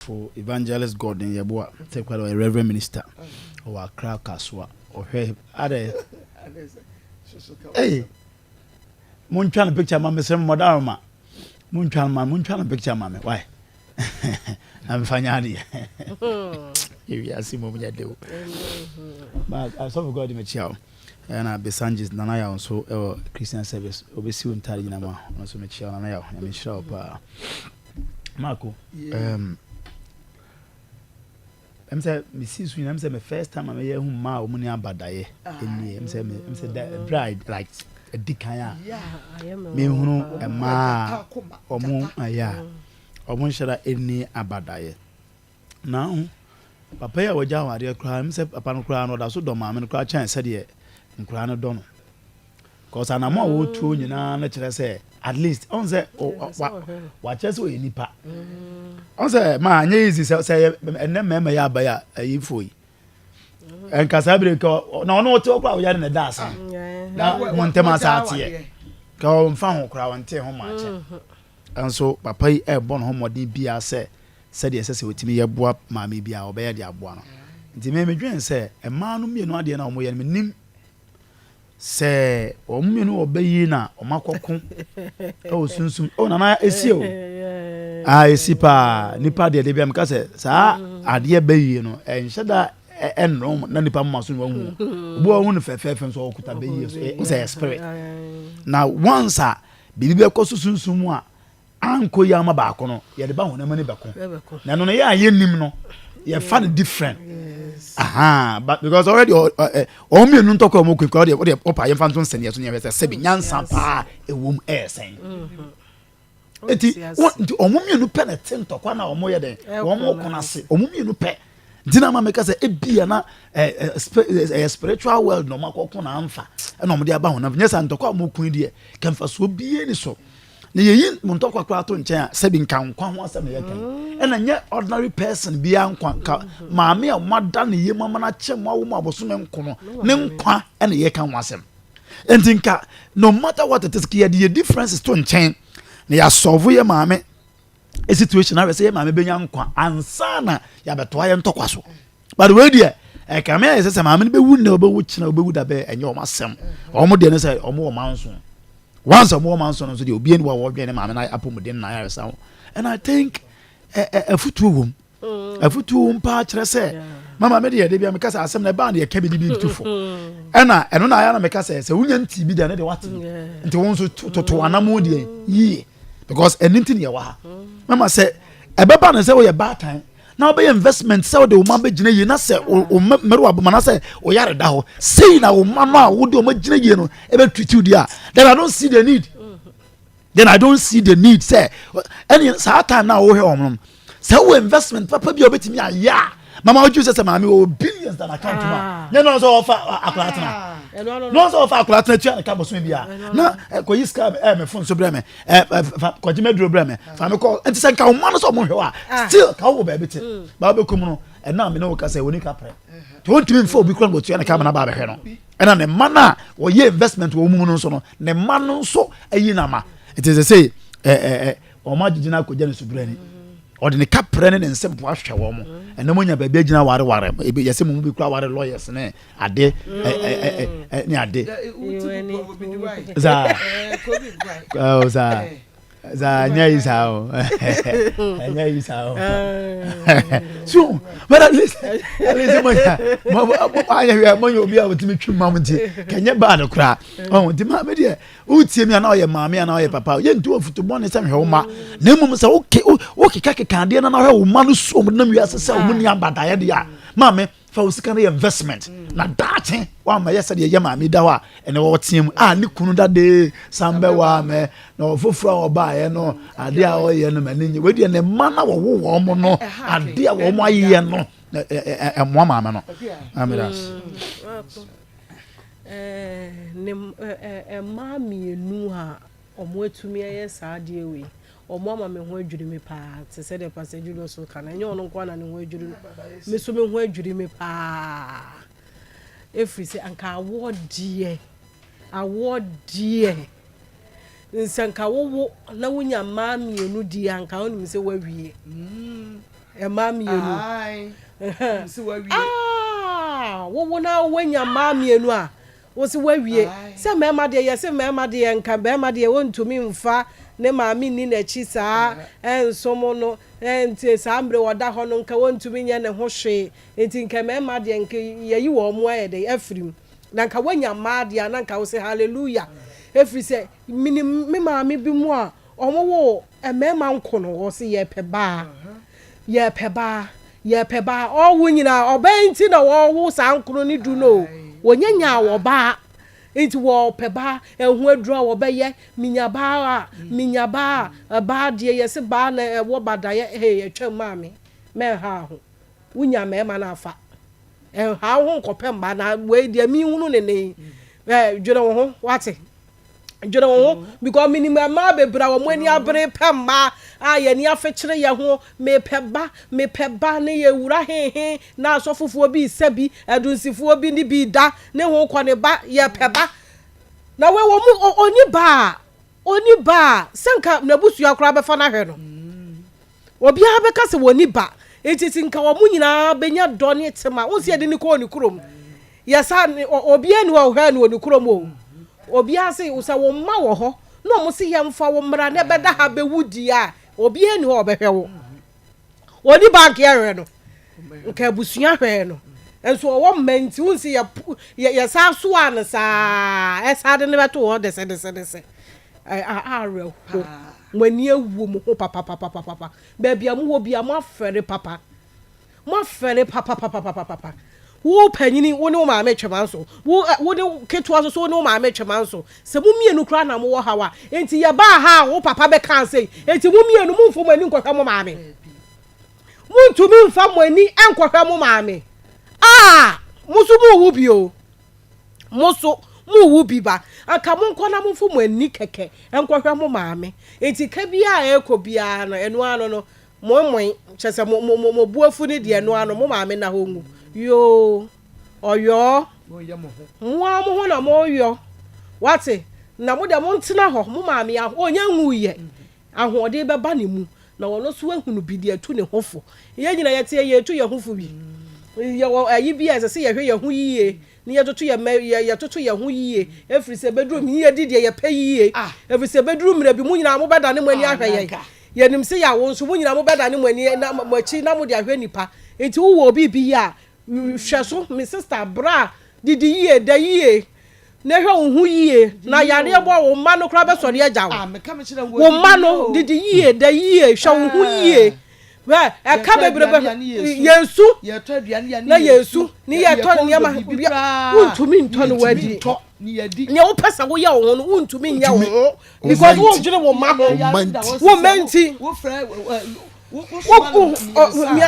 For Evangelist Gordon Yeboah, third quarter, ɔyɛ Reverend Minister ɔwɔ Accra Kasoa, ɔhwɛ adɛ Hey, montwa no picture ma me sɛ mmɔda roma montwa no ma montwa no picture ma me why na mefa nyɛ adeɛ ewiase mmom nyɛ de o asɔfo god mekyia wo ɛna besanges nana yaw nso ɛwɔ christian service obɛsi wo ntare nyina mu a ɔno nso mekyia wo nana yaw nyame nhyira wo paa Marco, um, ɛm sɛ mesi so nyina ɛm sɛ me first time a mɛyɛ hu mmaa a wɔn ni abadaeɛ ɛni ɛm sɛ me ɛm sɛ da ɛbrɛ a like ɛdi kan a mehunu mmaa a wɔn ayɛ a wɔn nhyɛra ɛni abadaeɛ na ho papa yi a wɔgya awadeɛ koraa ɛm sɛ papa no koraa no ɔda so dɔ maame no koraa kyɛn sɛdeɛ nkoraa no dɔ no Cause anamɔ a wɔtuo nyinaa no kyerɛ sɛ at least ɔn sɛ wakyerɛ sɛ ɔyɛ nipa ɔn sɛ ma anyɛ easy sɛ sɛ ɛnɛ mmarima yɛ aba yɛ ayifo yi nka saa bere nka na ɔno ɔte ɔkora ɔyɛ ne da asa na mo ntɛm asa ateɛ ka ɔmfa ho kora ɔnte ho ma akyɛ nso papa yi ɛbɔ ne ho mmɔden bia sɛ sɛdeɛ ɛsɛ sɛ ɔtumi yɛ boa maame bia ɔbɛyɛ de aboa no nti mɛmedwen sɛ mmaa no mmienu adeɛ no a wɔyɛ no menim sɛ wɔn mmienu wɔ bɛ yi na wɔn akɔko ɛwɔ sunsun ɛwɔ nana esi o aa esi paa nipa deɛ de bi amika sɛ saa adeɛ bɛ yi no ɛnhyɛ da ɛnno na nipa mma so na wɔn mu obi wɔn ho no fɛfɛɛfɛ nso ɔkuta bɛ yi so ɛsɛ spirit na once a biribi bɛkɔ so sunsun mu a Anko yi a ɔma baako no yɛde ba honam ani bɛko na ɛno no yɛ a yɛnim no yɛfa no different aha but because already wɔn mmienu ntɔkwa wɔn kunkun ɔde ɔde ɔpa yɛnfa nso nsɛnniɛ so yɛhwɛ sɛ sɛbi nyansa paa ɛwɔ mu ɛyɛ sɛn eti wɔn nti wɔn mmienu pɛ na ɛte ntɔkwa na wɔn yɛ dɛ wɔn kɔn ase wɔn mmienu pɛ nti na maame kasa ebi yɛ na ɛɛ ɛɛ spiritual world na wɔn akɔkɔ na anfa ɛna wɔn de aba wɔn nam nyɛ sɛ ntɔkwa wɔn kun deɛ kɛmfa so bie ni so. na yɛyi mo ntɔkwa koraa to nkyɛn a sɛbi nka nkwa ho asɛm na yɛka yi ɛna nyɛ ordinary person biara nkwa nka maame a moada ne yam ama no akyɛ mo awo mu abosome nko no ne nkwa ɛna yɛka ho asɛm nti nka no matter what it is ka yɛde yɛ differences to nkyɛn na yɛasɔvo yɛ maame situation ahwɛ sɛ yɛ maame bɛnya nkwa ansa na yɛabɛtoa yɛ ntɔkwa so but wei deɛ ɛkame ayɛ sɛ sɛ maame no bɛwu nnɛ ɔbɛwu kyena ɔbɛwu da bɛɛ ɛnyɛ ɔma sɛm ɔmo deɛ no sɛ ɔmo wɔ manso once ɔmo wɔ manso no nso deɛ obiara ni wɔ wɔdwɛn ne maame no apɔmuden na ayaresa ho and i think afutuo wom mm. afutuo wom paa kyerɛ sɛ mama me deɛ de bia meka sɛ asɛm na ɛbaa no yɛka bi de bi to fo mm. ɛna ɛno na ayɛ na meka sɛ sɛ wonya nti bi da ne deɛ wate nti wo nso toto mm. anamo deɛ yie because ɛno nti ne yɛwɔ ha mama sɛ ɛbɛba no sɛ woyɛ baatan na wobɛyɛ investment sɛ wode wo ma bɛgyina yie na sɛ wo mmere wabom anaasɛ wo yare da hɔ sei na wo ma no a wode ɔma gyina yie no ɛbɛtritiw deɛ a then i don't see the need then i don't see the need sɛ ɛne saa time no a wohwɛ wɔn no sɛ wowɔ investment papa bi a wobɛtumi ayɛ a mama wodwu sɛ sɛ maame wɔwɔ billions dan account mu a nyɛ no sɛ wɔfa akora tena no sɛ wɔfa akora tena tua ne ka bɔsome bi a na kɔyi sika ɛmɛfo nso berɛ me ɛ ɛ fa kɔgye mi aduro brɛ mi fa mi kɔ nti sɛ nka wɔn mma no sɛ wɔn hwɛ wa ah. still ka wɔ baabi te mm. baa bɛ kum no ɛna mi ne wo ka sɛ wɔn ni ka pɛ te wɔn tumi nfa obi kura nkotua ne kaa mi na baa bɛ hwɛ no ɛna ne mma no a wɔyɛ investment wɔ wɔn mu no nso no ne mma no nso ayi na ma nti sɛ sɛ ɛ ɛ ɛ wɔn agyegye na akɔgya ne subira ni ɔde ne ka pɛ ne ne nsɛm po ahwɛ wɔn ɛnna mo nya baabi agyina ware ware yɛsɛ mo mu bi kura ware lawyers ne. ade ne ade saa saa saa nyɛ yi saa o nyɛ yi saa o so but at least at least mo yɛ mo ayɛ hwɛ mo yɛ obi a wotumi twi mu amu nti kɛnyɛ bad koraa ɔn nti maame deɛ wotie mi anaa ɔyɛ maame anaa ɔyɛ papa yɛ nti wɔn futu bɔne sɛ hwɛ wo ma na mmom sɛ woke wokeka keka adeɛ na na hwɛ wo ma no so wɔn nam wiase sɛ wɔn ni abadaeɛ deɛ maame fa wo sika no yɛ investment na daakye wama yɛ sɛdeɛ yɛ maame da hɔ a ɛnɛ wɔteam a ne kunu dade san bɛwaa mɛ na ɔfoforɔ a ɔbaeɛ no adeɛ a ɔyɛ no m'ani nye wei deɛ ne mma na wɔwo wɔn mo no adeɛ a wɔn ayeyɛ no ɛmoa maame no amiras mmaa mmienu a Ɔmo atumi ayɛ saa adeɛ wei. Ɔmo ama me ho adwiri me paa te sɛ deɛ Pastor Julius reka no. Ɛnyɛ ɔno nko ara na ne ho adwiri no, me nso me ho adwiri me paa. Ɛfiri sɛ anka awoɔ deɛ, awoɔ deɛ, sɛ anka wowo na wonya mmaa mmienu deɛ anka wonim sɛ woawie. Mmaa mmienu. Ahaa, wowo na woanya mmaa mmienu a, Wo se woawie? Sɛ mmarima deɛ yɛse mmarima deɛ nka barima deɛ ɔntumi mfa ne maame nni n'akyi saa ɛnsom no nti saa mmerɛ wɔda hɔ no nka wɔntumi nyɛ ne ho hwee nti nka mmarima deɛ nka yɛayi wɔn ayɛ dɛn afiri mu na nka woanya mmaa deɛ a na nka wose hallelujah ɛfiri sɛ Menim me maame bi mu a wɔwoo mmarima nko no, wɔse yɛpɛ baa, yɛpɛ baa, yɛpɛ baa. Ɔwo nyinaa ɔbaa nti na wɔwo saa nkono ne du no. Wɔnya nyaa wɔ baa, nti wɔpɛ baa. Ɛho aduru a wɔbɛyɛ, menya baa a, menya baa a. Baa deɛ yɛse baa na ɛwɔ badaeɛ, hee atwam maame, mɛnha ho. wo nya mmarima no afa ɛnha wo ho nkɔpɛ mmaa na wei deɛ mehunu ne ne yi ɛɛ dwene wo ho wate dwene wo ho because menim mmaa bebree a wɔn ani abere pɛ mmaa a yɛn ani afekyere yɛn ho mepɛ ba mepɛ ba ne yɛ wura hehe na asɔfofoɔ bi sɛ bi adunsifoɔ bi ne bi da ne ho kɔ ne ba yɛpɛ ba na wei wɔn mu ɔni ba a ɔni ba a sɛ nka n'abusua koraa bɛfa no ahwɛ no. Obiara bɛka sɛ wɔnni ba. Enti sɛ nka wɔn nyinaa bɛnya dɔ ne tema. Wohu sɛ yɛde no kɔɔ ne kurom. Yɛsa ne, obiara nni hɔ a ɔhwɛɛ no wɔ ne kurom o. Obiara se, sɛ wo mma wɔ hɔ na wɔn se yɛmfa wo mmra na ɛbɛda ha bɛwu di a, obiara nni hɔ a ɔbɛhwɛ wo. Ɔnni ba anka yɛhwɛ no. Nka abusua hwɛɛ no. Nso ɔwɔ mma nti wohu sɛ yɛ, yɛ, yɛsan soaa no saa ara. Ɛsan de no bɛtoo hɔ desɛdesɛdesɛ. Ɛyɛ awerɛhow. Mo ani awu mo ho papapapapapa, baabi a mowɔ biara moafɛre papa, moafɛre papapapapapapa. Wo panyini, wo ne wo maame twema nso, wo ɛ, wo ne ketewa nso, so wo ne wo maame twema nso. Sɛ mo mmienu koraa na mowɔ haw a, enti yɛbaa ha a wo papa bɛkaa sei, enti mo mmienu momfa mo ani nkɔhwɛ mo maame. Montumi mfa mo ani nkɔhwɛ mo maame. Ah! Mo nso morewu bio. Mo nso, morewo bi ba. Anka monkɔ na momfa mo ani kɛkɛ nkɔhwɛ mo maame. Enti ka biara a ɛrekɔ biara no, ɛno ara no no, moemoe, kyerɛ sɛ, mo, mo, mo, mo bo afu no deɛ, ɛno ara no, mo maame nna hɔ nwu. Yoo, ɔyɔɔ. Mo ara mo ho na moreyɔ. Woate? Na mo deɛ montena hɔ, mo maame a, ɔnnya nwuiɛ. Ahoɔden bɛba ne mu, na ɔno nso ahunu bi de atu ne ho fo. Yɛn nyinaa yɛte a, yɛtu yɛn ho fo bi. Yɛwɔ ayi bi a ɛsɛ sɛ yɛhwɛ yɛn ho yie na yɛtoto yɛn mma yɛtoto yɛn ho yie ɛfiri sɛ bɛduru mu yɛdi deɛ yɛpɛ yie ah. ɛfiri sɛ bɛduru mmerɛ bi mo nyinaa mobɛdane mo ani ah, ahwɛ yɛn yɛnim sɛ yɛawo nso mo nyinaa mobɛdane mo ani na mo akyi na mode ahwɛ nnipa nti wowɔ biribi yɛ a hwɛ so me sista bra didi yie da yie Na hwɛ wo ho yie, na yareɛ bɔ wo mma no koraa bɛsɔre agya wo. Wo mma no, didi yie, da yie, hwɛ wo ho yie. Hwɛ, ɛka bebrebe, yɛn su, na yɛn su, ne yɛtɔ nneɛma, wontumi ntɔ ne wadi. Nea wopɛ sɛ woyɛ wo ho no, wontumi nyɛ wo ho, because wodwene wo mma ho, wo mma nti.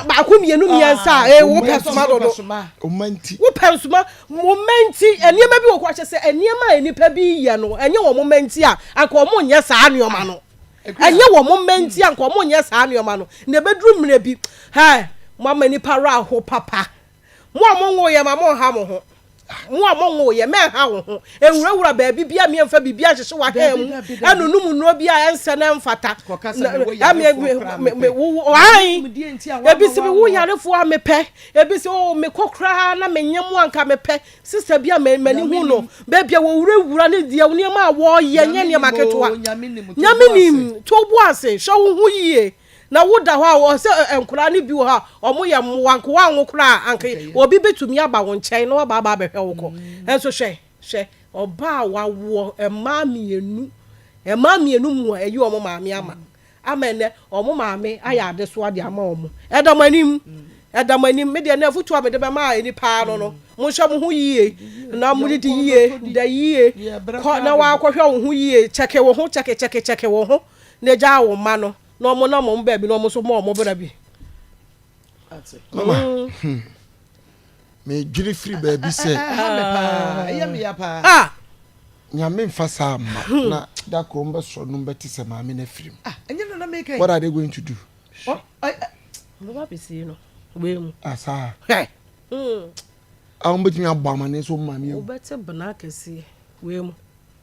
baako mmienu mmiɛnsa a ee wopɛ nsoma dodo wopɛ nsoma wɔn mma nti nneɛma bi wɔ hɔ akyɛ sɛ nneɛma a nnipa bi yɛ no ɛnyɛ wɔn mma nti a anka wɔn nyɛ saa nneɛma no ɛnyɛ wɔn mma nti a anka wɔn nyɛ saa nneɛma no na ebeduru mmerɛ bi hɛɛ mo ama nipa wɔ aho papa. Mo a monwoo yɛn ma monnha mo ho. Ah, mo a monwoo yɛn, mɛnha wo ho. Nwurawura baabi biara, meɛmfa biribiara nhyehyɛ w'ahaa mu, ɛnonom nnuro bi a ɛnsɛ na ɛmfata. Kɔka sɛ mewɔ yarefoɔ koraa mepɛ. Wɔn ebi si mewɔ yarefoɔ a mepɛ. Ebi si oh mekɔ koraa na menyɛ mo anka mepɛ. Sista bi a m'ani hu no, baabi a wɔwurawura ne deɛ nneɛma a wɔyɛ nyɛ nneɛma ketewa. Nyame nim, to wo bo ase, hyɛ wo ho yie. Na woda hɔ a, ɔwɔ sɛ ɛ, nkwadaa no bi wɔ hɔ a, wɔyɛ mmoa, nka wɔanwo koraa a, anka obi bɛtumi aba wo nkyɛn na waba aba abɛhwɛ wo kɔ. Nanso hwɛ, hwɛ, ɔbaa a wawoɔ mmaa mmienu, mmaa mmienu mu a, ayi wɔn maame ama, ama ɛnnɛ wɔn maame ayɛ adesoa de ama wɔn. Ɛda mo anim, ɛda mo anim. Me deɛ, ɛnnɛ afotuo a mede bɛma ani paa no no, monhwɛ mo ho yie, na modidi yie, da yie, kɔ na woakɔhwɛ wo ho yie, kyɛke wo ho, kyɛke, kyɛke, kyɛke wo ho. na egyaa wɔn mma no na wɔn nam wɔn baabi na wɔn nso mɔ wɔn bra bi. mama hmm. medwene firi baabi sɛ nyame mfa saa mma hmm. na da koro mbɛsɔ no mbɛte sɛ maame no afirim ah, what are they going to do oh, asaa ah, hmm. a ah, wɔbɛtumi abɔ amane so maame wobɛte bena kɛseɛ wei mu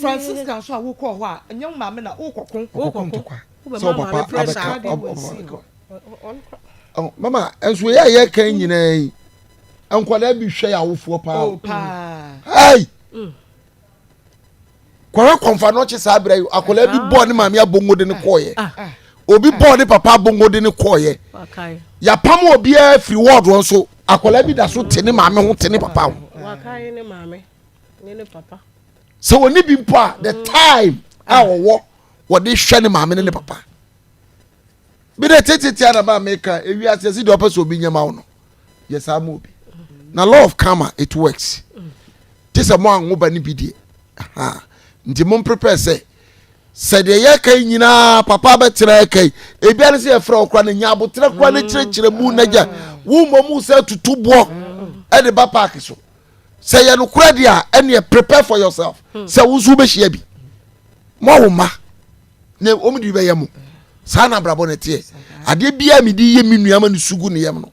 Francisca nso a wokɔɔ hɔ a, ɛnyɛ wo maame na wokɔko. Wokɔko ntɔkwa. Sɛ wo papa abɛka mama nso yɛ a yɛka nyinaa yi nkwadaa bi hwɛ yɛ awofoɔ paa o hei kɔhwɛ kɔnfa no ɔkye saa berɛ yi akwadaa bi bɔɔ ne maame abongo de ne kɔɔyɛ obi bɔɔ ne papa abongo de ne kɔɔyɛ yɛapam obiara firi wɔɔdoɔ nso akwadaa bi da so te ne maame ho te ne papa ho sɛ wɔne bi mpo a the mm. time a ah. wɔwɔ wɔde hwɛ ne maame ne ne papa bi dɛ tetetea na maa meka ewi ase ɛsi deɛ ɔpɛ sɛ obi nyɛma wo no yɛ saa ma obi na law of karma it works te sɛ mo anwo ba ne bi deɛ nti mo mprepare sɛ sɛdeɛ yɛka yi nyinaa papa bɛtena ɛka yi ebia ne sɛ yɛfrɛ wo kora no nya aboterɛ kora no kyerɛkyerɛ mu nagya wo mmɔ mu sɛ tutu boɔ ɛde ba paake so sɛ yɛ nokorɛ deɛ a ɛneɛ prepare for yourself hmm. sɛ wo nso wobɛhyia bi mo awo mma na wɔn de bɛyɛ mo saa na abrabɔ na ɛteɛ adeɛ biara mi de yɛ mi nua ma ne sugu ne yam no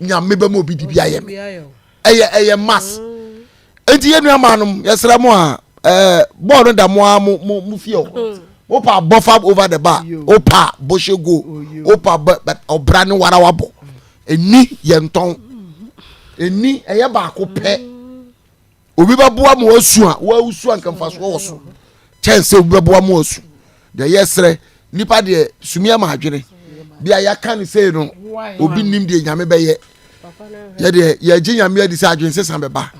nyame bɛ ma obi de bi ayɛ mi ɛyɛ ɛyɛ mas hmm. eti yɛ nua maa nom yɛsrɛ mo a ɛɛ bɔɔl no da mo a mo mo mo fie hɔ hmm. o pa bɔ fa over the bar o pa bɔ hyɛ go o pa bɛ ɔbra ne warawa bɔ. ɛni yɛ ntɔn ɛni ɛyɛ baako pɛ obi bɛboa ma wasu a wasu a nkamfasoɔ wɔ so kyɛn sɛ obi bɛboa ma wasu deɛ ɛyɛ serɛ nipa deɛ sumi ama adwene deɛ a yɛaka ne sei no obi nim deɛ nyame bɛyɛ yɛdeɛ yɛgye nyame adi sɛ adwene sesa bɛba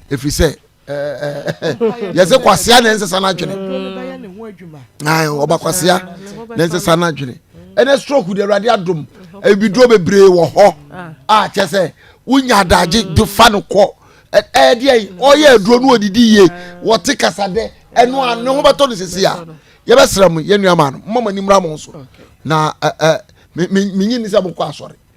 ɛfiri sɛ yɛsɛ kwasea na ɛnsesa no adwene ɔba kwasea na ɛnsesa no adwene ɛnɛ stroke de awurade adom abiduro bebree wɔ hɔ a kyɛ sɛ wonya adagye de fa no kɔ ɛdeɛ ɔyɛ aduro no ɔdidi yie wɔte kasa dɛ ɛno a ne ho bɛtɔ no sisi a yɛbɛsrɛ mo yɛnnuama no mma mo ani mmra mo so na menyi ni sɛ mokɔ asɔre